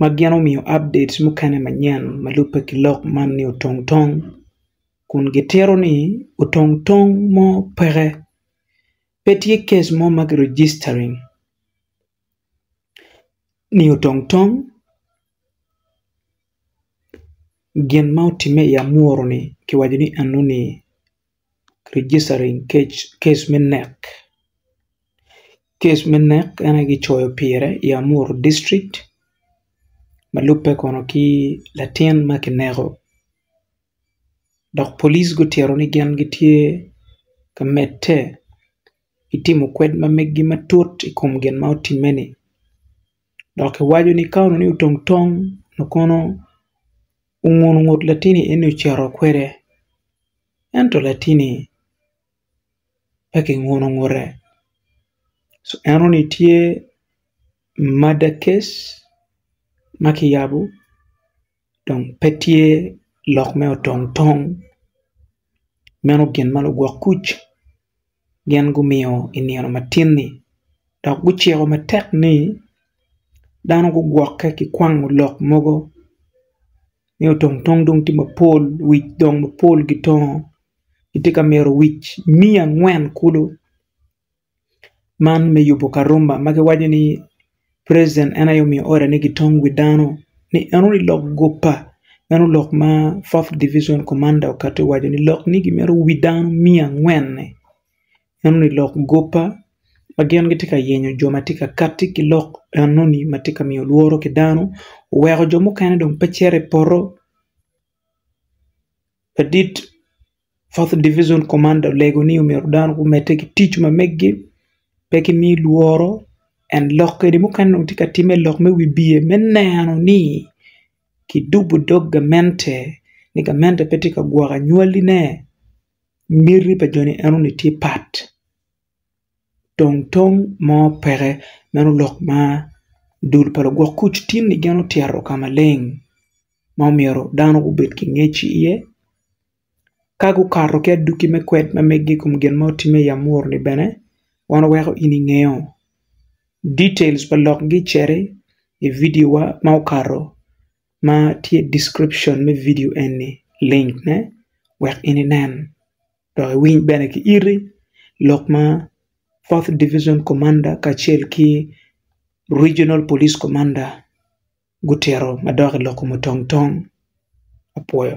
ma gin omiyo update mukene manyen ma lubbe ki lok man ni otong tong kun gitito ni otong tong mo peke pe tye case mo ma ki registering ni otong tong gin ma otime i amuru ni ki waco ni enoni registering case me nek case me nek en aye kicoyo pire i Amuru district ma lubbe kono ki latin ma kineko dok polic gutito ni gin gitye ka medde ki timo kwed ma meggi matut i kom gin ma otimme-ni dok kiwaco ni ka onongo ni otong tong onongo kono ongut latinni eni ocito kwede. Ento latinni pe kinguno ngute ci en oni tye mada case ma kiyabo dong pe tye lok me otong tong meno gin ma lugwok kuc. gin gumiyo i nino matin-ni dok guciko matek ni dano gugwokke ki kwango lok mogo ni otongtong dong tye mapol wic dong mapol gitongo kitye ka myero wic miya angwen kulu man me yubo Karuma ma giwaco ni president en aye omiyo order ni gitong wi dano ni en oniang lok guppa meno lok ma fourth division commander okato i waco ni lok ni gimito wi dano miya angwen ni en oniang lok guppa ma gin gitye ka yenyo jo ma tye ka kati ki lok enoni ma tye ka miyo lworo ki dano oweko jo mukene dong pe cito i poto ladit Fourth Division Commander olego ni omyero dano gumedde ki tic ma meggi pe ki mi lworo and lok kadi mukene dong tye ka timme lok me wibiye me neno ni ki dubu dog gamente ni gamente pe tye ka gwoko anywali ne miti pa joni enoni tye pat tong tong mo peke meno lok ma dul pa lugwok kuc tin ni gin otyero ka maleng ma omyero dano gubed ki ngec iye. Ka gukato ki aduki me kwed ma meggi i kom gin ma otimme i amuru-ni bene, wan weko in ingeyo. Details pa lokgi cito i vidiowa ma okato ma tye i description me vidio eni, link ne, wek in inen dok iwiny bene ki iti lok ma Fourth Division Commander kacel ki Regional Police Commander gutito ma dok i loko mutong tong. Apwoyo.